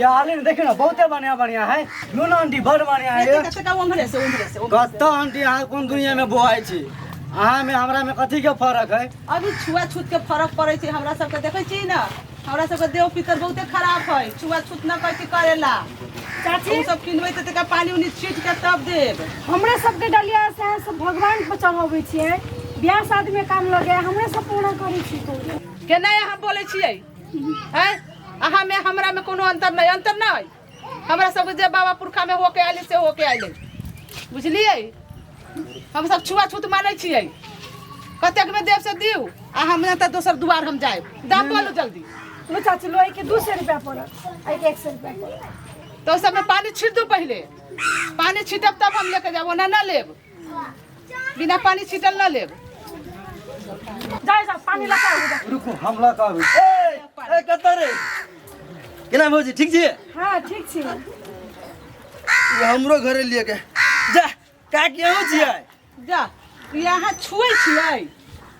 यार देखियो ना बहुते बढ़िया बढ़िया है लूना आंटी बड़ बढ़िया है ये। कतका उम्र से उम्र से उम्र कत्ता आंटी अहाँ कोन दुनिया में बोआइ छी अहाँ में हमरा में कथी के फर्क है अभी छुआछूत के फर्क पड़े छै हमरा सबके देखै छी ने हमरा सबके देह पितर बहुते खराब है छुआछूत न कहै छी करेला चाची ओ सब किनबै तऽ तका पानी उनी छीट के तब देब हमरा सबके डलिया से अहाँ सब भगवान पर चढ़ाबै छियै बियाह शादी में काम लगे हमरा सब पूरा करै छी तो केना अहाँ बोलै छियै हैं अहाँ में हमरा में कोनो अंतर नहीं अंतर ना है हमरा सब जे बाबा पुरखा में होके आइले से होके आइले बुझलिए हम सब छुआछूत मानै छियै कतेक में देव से दिउ आ हम ना तऽ दोसर दुआर हम जाए दाम बोलू जल्दी लो चाची लो एक दू सौ रुपया पड़त एक एक सौ रुपया पड़त तो सब में पानी छीट दो पहले पानी छीटब तब हम लेके जाब ओना ना लेब बिना पानी छिटल ना लेब जा जा पानी लगा जा रुकू हम लऽ कऽ आबै छी। ए ए कतऽ रे केना भौजी ठीक छी हां ठीक छी ई हमरो घरे लिए के जा का केहू छियै जा यहाँ छुए छियै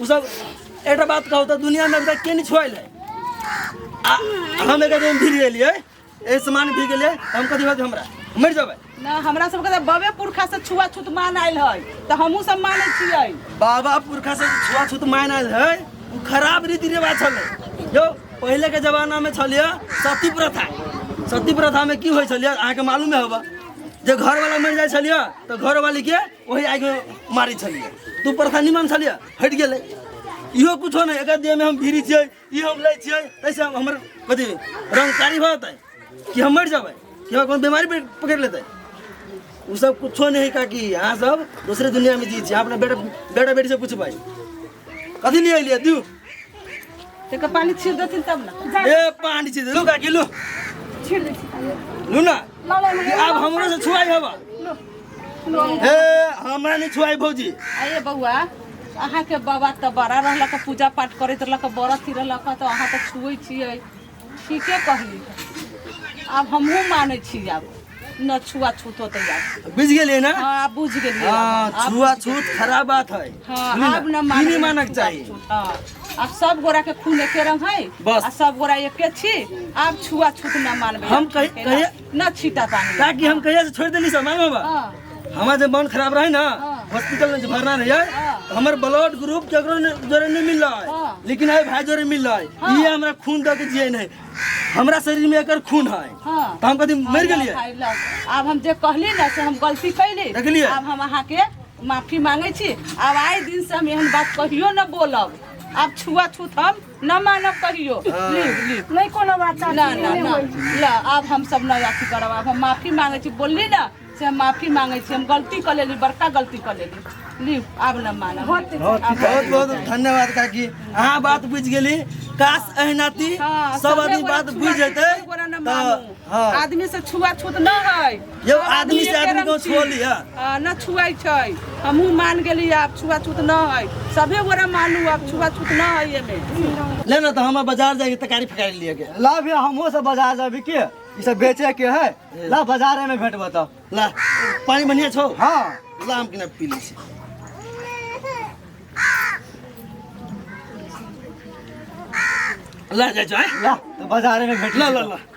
उ सब एकटा बात कहू तऽ दुनिया में एकटा के नहीं छोड़ल है आ हम एक दिन भीड़ गेलिए ए सामान भीड़ गेलिए हम कथी होत हमरा मर जाबे ना हमरा सबके तऽ बबे पुरखा से छुआछूत मान आयल है तऽ हमहूँ सब मानै छियै बाबा पुरखा से छुआछूत मान आयल है उ खराब रीति रिवाज छले जो पहले के जमाना में छलिए सती प्रथा सती प्रथा में की होय छलिए अहाँ के मालूम है होबा जे घर वाला मर जाय छलिए तऽ घर वाली के वही आगे मारी छलिए तू प्रथा निमन छलिए हट गए इहो कुछो नहीं अगर देह में हम भीरी छे ई हम ले छे ऐसे हम हमर कथी रंगकारी हो जाता है कि हम मर जाबे कि हमरा कोनो बीमारी पे- पकड़ लेता है उ सब कुछो नहीं है काकी यहाँ सब दूसरे दुनिया में जी छी अपना बेटा बेटा बेटी से पूछबै कथी लिए लिए दियो तेकर पानी छीट देथिन तब ने ए पानी छी लू काकी लू छीट दै छी लू ना लऽ ले ई आब हमरो से छुआई हवा ए हमरा नहीं छुआई भौजी आये बौआ अहाँके बाबा तऽ बड़ा रहलक पूजा पाठ करैत रहलक बड़ा थी रहलक तऽ अहाँ तऽ छुए छियै ठीके कहली आब हमहूँ मानै छी आब न छुआ छूत होते आब बुझ गेलिए ना हाँ आब बुझ गेलिए हाँ आब छुआ बुझ गेलिए। छूत खराब बात है हाँ सुनी ना, आब न ई मानै नहीं मानक छुआ चाहिए छूत, हाँ आब सब गोरा के खून एके रंग है बस। आ सब गोरा एके छी आब छुआ छूत न मानबे हम कही कही ना छीटा पानी का कि हम कहिया से छोड़ देली सामान बाबा हाँ हमार जब मन खराब रहे ना हाँ। हॉस्पिटल में जब भरना रहे हाँ। तो हमार ब्लड ग्रुप केकरो ने- जोरे नहीं मिल रहा है हाँ। लेकिन है भाई जोरे मिल रहा है हाँ। ये हमरा खून दे के जिए नहीं हमरा शरीर में एकर खून है हाँ तो हम कभी मर गेलिए भाई लोग, आब हम जे कहली ना से हम गलती कैली देखलियै? आब हम अहाँ के माफी मांगे छी आब आए दिन से हम एहन बात कहियो न बोलब आब छुआ छूत हम न मानब कहियो ली ली नहीं कोनो बात ना ना चाची ना ला आब हम सब ना अथी करब आब हम माफी मांगे छी बोलली ना से हम माफी मांगे छी हम गलती कर लेली बड़का गलती कर लेली ली आब ना मानब बहुत बहुत बहुत धन्यवाद काकी अहाँ बात बुझि गेली काश अहिनाती हाँ, सब सबे आदमी गोरा बात छुआ बुझि छूत जेतै एगो गोरा ना तऽ मानू। हाँ आदमी से छुआ छूत ना है यौ सब आदमी से आदमीके आदमी को रमती। छोड़ लिया आ, न छुए छै हमहू मान गेली आब छुआछूत न है सभे गोरा मानू आब छुआछूत न है एमे ले ना तो हम बाजार जाके तकारी फकारी लिए के ला भैया हमहूँ सब बाजार जाबी के ई सब बेचे के है ला बाजारे में भेंट बताओ ला पानी बढ़िया छो हाँ ला हम किना पी ली छी। ला जा जा ला तो बाजारे में भेंट ला ला ला